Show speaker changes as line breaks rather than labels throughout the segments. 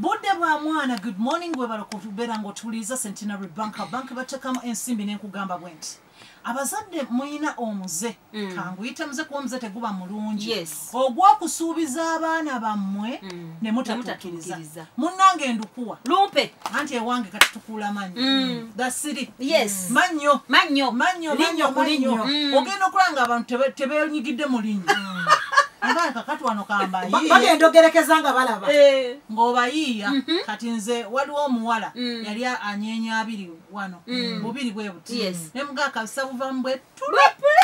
budde bwa mwana good morning webala kubeera ngaotuwuliriza centenary bank bank batekamu ensimbi nenkugamba bwe nti abazadde muyina omuze mm. kanguyite muze kuba omuze teguba mulungi yes. ogwokusuubiza abaana bammwe mm. nemutatukiriza munange ndukuwa lumpe anti
ewange kati
kukuula manyo mm. gasiri yes mm. manyo manyo manyo manyo kulinyo mm. ogenda okulaba nga abantu tebenyigidde mu linyo abaana kakati wano kambayi bagenda ogerekeza nga
balaba eh. ng'obayiiya
mhm. kati nze waliwo omuwala mm. yali anyeenya abiri wano mm. bubiri bwe buti ne mugakabisa buvamu bwe tulapule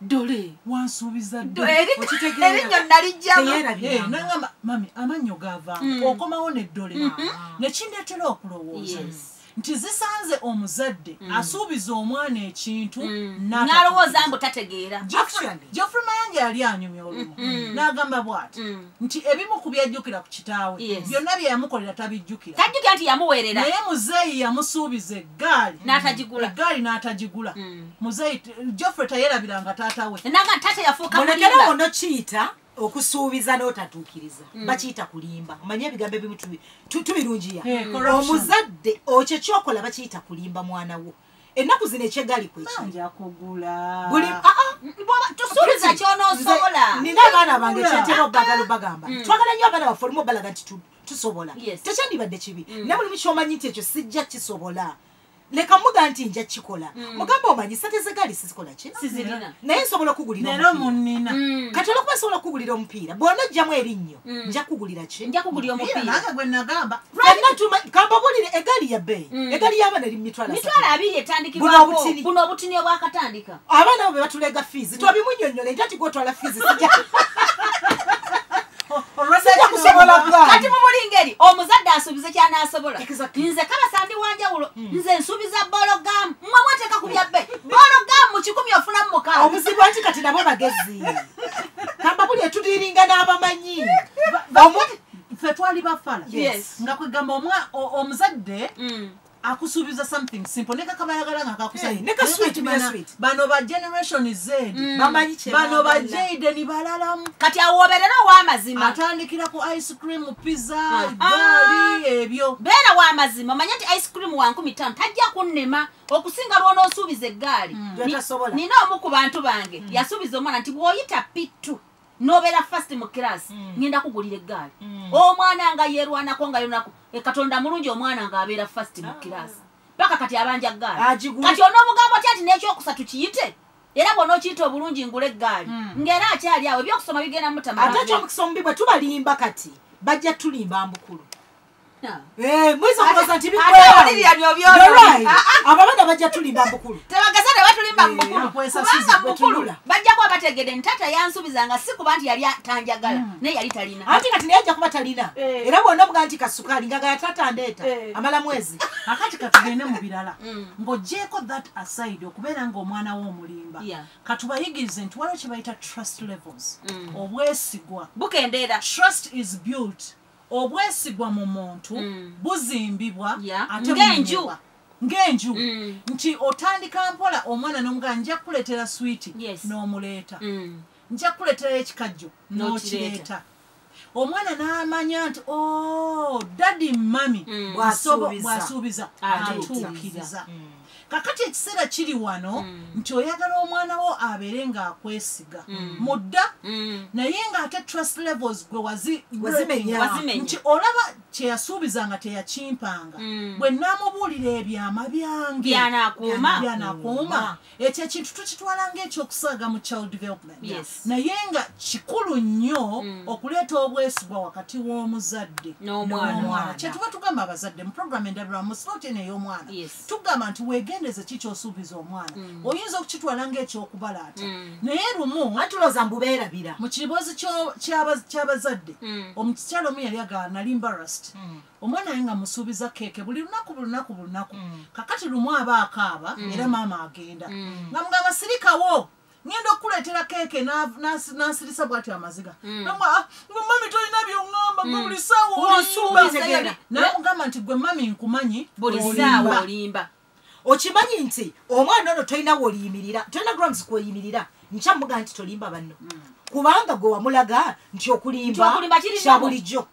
dole
wansuubiza
erinnyo
nalijjamunangamba eh, mami
amannyo gava mm. okomawo ne dole mm-hmm. nekindeetera okulowooza nti zisanze omuzadde mm. asuubiza omwana ekintu mm. nalowooza
mbu tategeera geoffrey
mayanja yali anyumya olumu mm-hmm. n'agamba bwati nti ebimu ku byajjukira ku kitaawe byonna bye yamukolera tabijjukira tajjukira nti yamuweerera
naye muzeeyi
yamusuubiza eggaali n'atagigula eggaali n'atagigula mm. muzeeyi joffre tayerabira nga taata we naga taata yafuuka mulekere
ono kiyita
okusuubiza n'otatuukiriza mm. bakiyita kulimba omanye ebigambo ebimu tubirungiya eh, omuzadde okyo kyokola bakiyita kulimba mwana wo ennaku zino ekyegali
kwekibusuubiza
kyonosobola nina abaana bange
kyentera obagala obagamba mm. twagala nyo abaana baffe olumu obalaga nti tusobola tekyandibadde kibi mm. naye mulimu kyomanyi nti ekyo sijja kisobola leka muga nti nja kikola mm. mugamba omanyi sente zegaali sizikola ki naye nsobola okugulira
kati olwokuba nsobola
okugulira omupiira bwona ojjamu erinnyo Mm. nja kugulira ki nja kugulira omupiira nange
gwe nagamba
fenna tuma kambabulire
egaali ya bbeeyi mm. egaali y'abaana eri mitwalo mitwalo abiri etandikibwako
buno obutini obwakatandika abaana abo be batuleega
fiizi mm. twabimunyonyola nti ati gwotwala fiizi
sija kati mumuli ngeri omuzadde asuubize kyanasobola nze kabasa ndi wanjawulo hmm. nze nsuubiza bologamu mwe mweteeka ku byabbe bologamu kikumi ofunamu mukaaobuzibu nti kati nabo
bagezi kambabuli etudiringa n'abamanyi
ffe twali bafala nga kwegamba omuzadde mm. akusuubiza something simple ne kakaba yagala nga kakusabano
ba
generation z mm. bano
ba jade ni
balalamu kati awoberera
owamazima atandikira ku ice
cream pizza ah, ah. gali ebyo beera wamazima
omanye nti ice cream wankumi tano tajja kunnema okusinga lwonoosuubiza eggaali hmm. nina omu ku bantu bange hmm. yasuubiza omwana nti bw'oyita pittu nobeera fast mu kirasi hmm. ngenda kugulira eggaali omwana nga yerwanako nga yonaku e katonda mulungi omwana ng'abeera fast mu ah. kirasi paka kati abanja ggaali kati onoomugambo ty nti n'ekyokusatu kiyite era bona okiyita obulungi ngula eggaali ng'era akyali awo ebyokusoma bigenda mutamaate ekyomukisa omubi bwe
tubalimba kati bajja tulimba mbukulu Eh, muyinza okuloza nti bikwababana bajja tulimba mukulu tebageza ne batulimba
mukulukubanga mukulu bajja kuba bategede nti taata yansubiza nga si kuba nti yali tanjagala hmm. naye yali talina anti kati naye ajja kuba talina
eh. era bwona buga nti kasukaali nga gaya taata ndeeta eh. amala mwezi akati katugende
mu birala hmm. ng'ogyeko that aside okubeera ng'omwana we omulimba katubayigirize nti waliwo kye bayita trust levels hmm. obwesigwa bukendeera
trust is
built obwesigwa mu muntu mm. buzimbibwa ate ng'enju ng'enju mm. nti otandika mpola omwana n'omugana nja kukuleetera switi n'omuleeta mm. nja kukuleetera ekikajjo n'okireeta omwana n'amanya nti o oh, dadi mummy bwasuubiza atuukiriza kakati ekiseera kiri wano mm. nti oyagala omwana wo abeere ng'akwesiga mm. mudda mm. naye ng'ate trust levels gwe wazimenya nti olaba kyeyasuubiza nga teyakimpanga mm. bwe naamubuulira ebyama byange byanakuuma ekyo ekintu tukitwala ng'ekyokusaaga mu child development naye nga kikulu nnyo mm. okuleeta obwesigwa wakati w'omuzadde n'omwana kyetuba tugamba abazadde mu programu endabirwamu slot eno ey'omwana tugamba nti weegendeze ki kyosuubiza omwana mm. oyinza okukitwala ngaekyokubalaata mm. naye lumu atuloza mbubeerabira
mu kiriboozi
ky'abazadde omukikyalo omu yali agaa nali mbarasiti omwana aye nga musuubiza keeke buli lunaku bulunaku bulunaku mm. kakati lumu aba akaaba mm. era maama agenda mm. nga mugamba sirikawo ngenda okukuleetera keeke n'asirisa bwati amaziga hmm. nga ah, mami tolina byoŋamba gwe hmm. buli saawanaamugamba nti gwe mami nkumanyi buli saawa
olimba okimanyi
nti omwana ono tolina woliyimirira tolina grounds kweyimirira nkyamuga nti tolimba banno hmm. kubanga gwe wamulaga nti okulimba kyabulijjo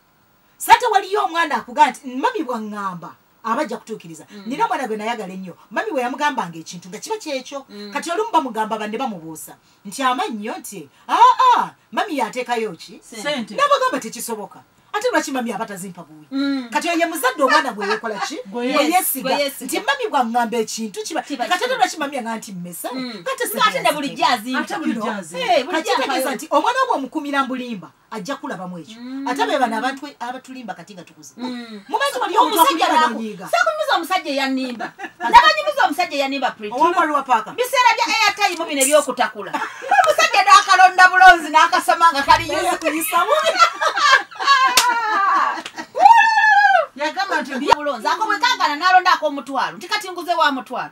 sate waliyo omwana akugaa nti mami bwaŋŋamba aba ajja kutuukiriza mm. nina omwana gwe nayagala ennyo mami we yamugambanga ekintu nga kiba kyekyo mm. kati olumu bamugamba banne bamubuusa nti amannyo nti aa mami yateekayo ki nabagamba tekisoboka ate lwaki mami aba tazimpa buwi mm. kati oye muzadde omwana gwe yekola ki weyesiga nti mami bwaŋŋamba ekintu kiba kati ate lwaki mami aŋa nti mmesa
kategeeza
nti omwana obwe omukumira mbulimba ajja kulabamu ekyo mm. ate be bano abantu abatulimba kati nga tukuze mm. mumanyi wali omusajjaakunyumiza omusajja
eyanimba nabanyumiza omusajja eyanimba
biseera bya airtime
bino ebyokutakula omusajja nakalonda bulonzi nakasoma nga kali yagamba
nti
bulonzi ako bwekagana nalonda akomutwalo nti kati nguze wa mutwalo